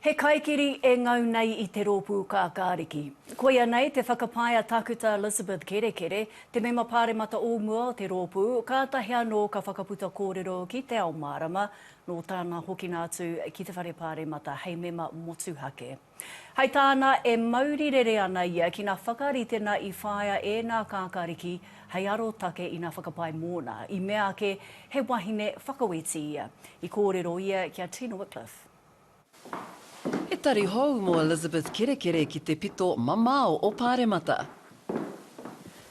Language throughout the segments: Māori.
He kaikiri e ngau nei i te Rōpū Kākāriki. Koia nei te whakapae a Tākuta Elizabeth Kerekere, te Mema Pāremata o mua o te rōpū, kātahi anō ka whakaputa kōrero ki Te Ao Mārama, nō tāna hokinga atu ki te Whare Pāremata hei mema motuhake. Hai tāna e mauri rere ana ia ki ngā whakarite na i whāia e nā Kākāriki hei arotake ina whakapae mōna, i mea ake he wahine whakaweti ia. I kōrero ia ki a Tina Wickliffe. He tari hou mō Elizabeth Kerekere ki te pito mamao o Pāremata.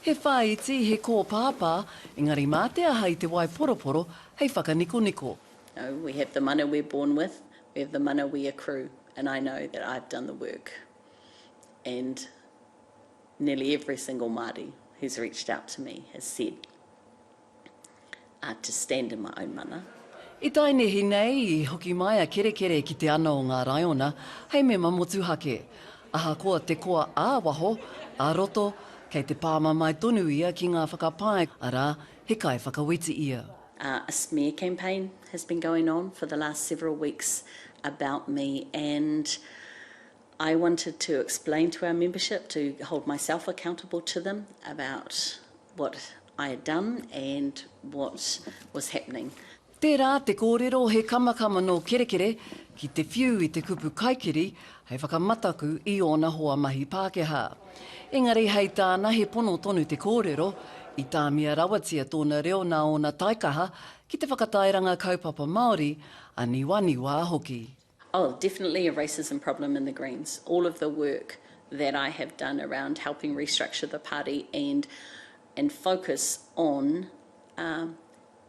He whāiti, he kōpāpā, engari mā te aha i te waiporoporo hei whakanikoniko. No, we have the mana we're born with, we have the mana we accrue and I know that I've done the work and nearly every single Māori who's reached out to me has said a to stand in my own mana. I tae nehi nei, i hoki mai a Kerekere ki te ana o ngā raiona hei mema motuhake. Ahakoa te koa ā-waho, ā-roto, kei te pāmamae tonu ia ki ngā whakapae, arā, he kaiwhakawiti ia. A smear campaign has been going on for the last several weeks about me and I wanted to explain to our membership, to hold myself accountable to them about what I had done and what was happening. Tērā te kōrero he kamakama nō Kerekere ki te whiu i te kupu kaikiri hei whakamataku i ōna hoa mahi Pākehā. Engari hei tāna he pono tonu te kōrero, i tāmia rawatia tōna reo nā ōna taikaha ki te whakatairanga kaupapa Māori, aniwaniwā hoki. Oh, definitely a racism problem in the Greens. All of the work that I have done around helping restructure the party and and focus on um,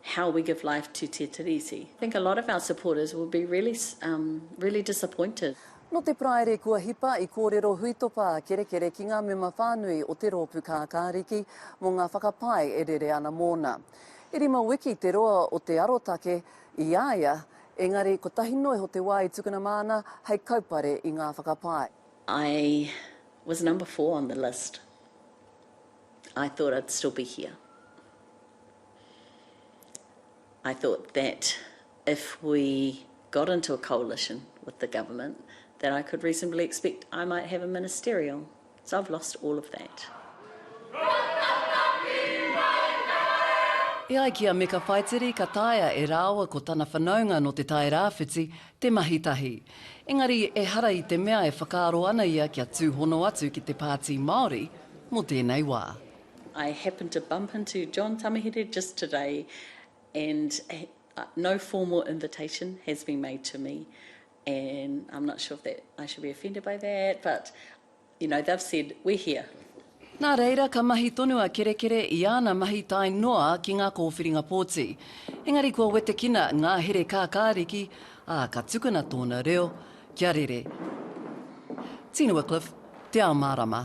how we give life to Te Tiriti. I think a lot of our supporters will be really, um, really disappointed. No te praere kua hipa i kōrero huitopa a Kerekere ki ngā mema whānui o te rōpu kākāriki mō ngā whakapae e rere ana mōna. I rima wiki te roa o te arotake i a ia Engari, kotahi noa iho te wā i tukuna māna hei kaupare i ngā whakapae. I was number four on the list. I thought I'd still be here. I thought that if we got into a coalition with the government that I could reasonably expect I might have a ministerial So I've lost all of that. E ai ki a Meka Whaitiri ka taea e rāua ko tana whanaunga nō Te Tai Rāwhiti te mahi tahi. Engari ehara i te mea e whakaaro ana ia kia tūhono atu ki te Pāti Māori mō tēnei wā. I happened to bump into John Tamihere just today and no formal invitation has been made to me And I'm not sure if that I should be offended by that, but you know, they've said, we're here. Nā reira, ka mahi tonu a Kerekere i āna mahi tae noa ki ngā kōwhiringa pōti. Engari kua wetekina ngā here kākāriki, ā, ka tukuna tōna reo, kia rere. Tino Wycliffe, Te Ao Mārama.